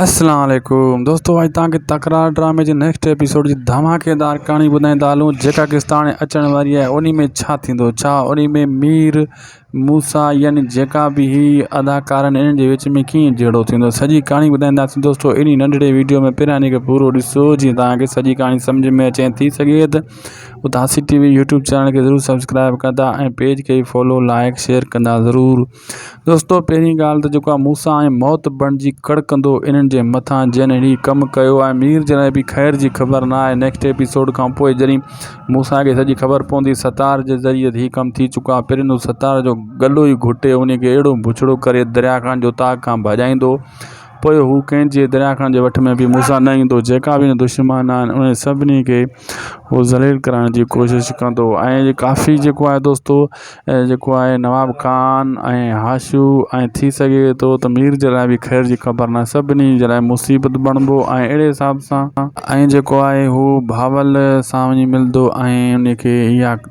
اسلام عليڪم دوستو اڄ توهان کي تڪرار ڊرامي جي نيڪسٽ ايپيسوڊ جي ڌماڪيدار ڪهاڻي ٻڌائيندا هلون جيڪا قسط هاڻي اچڻ واري آهي انهي ۾ ڇا ٿيندو ڇا انهي ۾ مير موسيٰ يعني جيڪا به هي اداڪارا آهن انهن جي وچ ۾ ڪيئن جهيڙو ٿيندو سڄي ڪهاڻي ٻڌائينداسين دوستو انهي ننڍڙي ويڊيو ۾ پهريان انهي کي پورو ڏسو جيئن توهان کي سڄي ڪهاڻي سمجهه ۾ اچي ۽ ٿي سگهي ته Itihasi T V YouTube channel کي ضرور سبسڪرائب ڪندا ۽ پيج کي فالو لائڪ شيئر ڪندا ضرور دوستو پهرين ڳالهه ته جيڪو آ موسا ۽ موت بڻجي ڪڙڪندو انهن جي مٿان جن هي ڪم ڪيو آهي مير جڏهن به خير جي خبر نه آهي نيڪسٽ ايپيسوڊ کان پوء جڏهن موسا کي سڄي خبر پوندي ستار جي ذريعي هي ڪم ٿي چڪو آهي پرين هو ستار جو ڳلو ئي گهٽي انهي کي اهڙو بڇڙو ڪري دريا کان جو تاڪ کان ڀڄائيندو پوء هو ڪنهن جي درياهه خان جي وٺ ۾ به مون سان نه ايندو. جيڪا به هن جا دشمن آهن انهن سڀني کي هو ذليل ڪرائڻ جي ڪوشش ڪندو ۽ ڪافي جيڪو آهي دوستو جيڪو آهي نواب خان ۽ هاشو ۽ ٿي سگهي ٿو ته مير جي لاء به خير جي خبر ناهي سڀني جي لاء مصيبت بڻبو ۽ اهڙي حساب سان ۽ جيڪو آهي هو بهاول سان وڃي ملندو ۽ انهي کي اها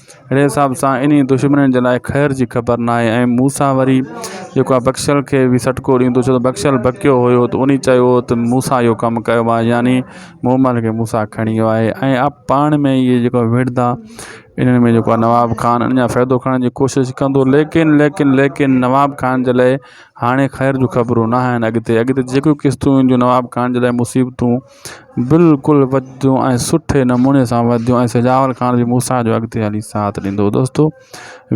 اهڙي حساب سان انهيء دشمنن جي لاء خير جي خبر نه آئي ۽ موسيٰ وري جيڪو آهي بخشيل کي به سٽڪو ڏيندو ڇو ته بخشيل بکيو هيو ته انهيء چيو هو ته موسيٰ اهو ڪم ڪيو آهي يعني مومل کي موسيٰ کڻي ويو آهي ۽ اهي پاڻ ۾ اهي جيڪو آهي وڙهندا انهن ۾ جيڪو آهي نواب خان ان جا فائدو کڻڻ جي ڪوشش ڪندو ليڪن ليڪن ليڪن نواب خان جي لاء هاڻي خير جون خبرون نه آهن اڳتي اڳتي جيڪو قسطون اينديون نواب خان جي لاء مصيبتون بلڪل وڌيون ۽ سٺي نموني سان وڌيون ۽ سجاول خان به مون سان جو اڳتي هلي ساٿ ڏيندو هو دوستو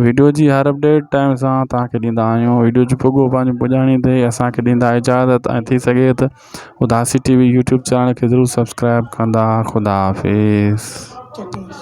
ويڊيو جي هر اپڊيٽ ٽائيم سان تاکي ڏيندا آهيون ويڊيو جو پڳو پنهنجي پڄاڻي تي اسانکي ڏيندا اجازت ۽ ٿي سگهي ته Udasi T V YouTube channel کي ضرور سبسڪرائيب ڪندا خدا حافظ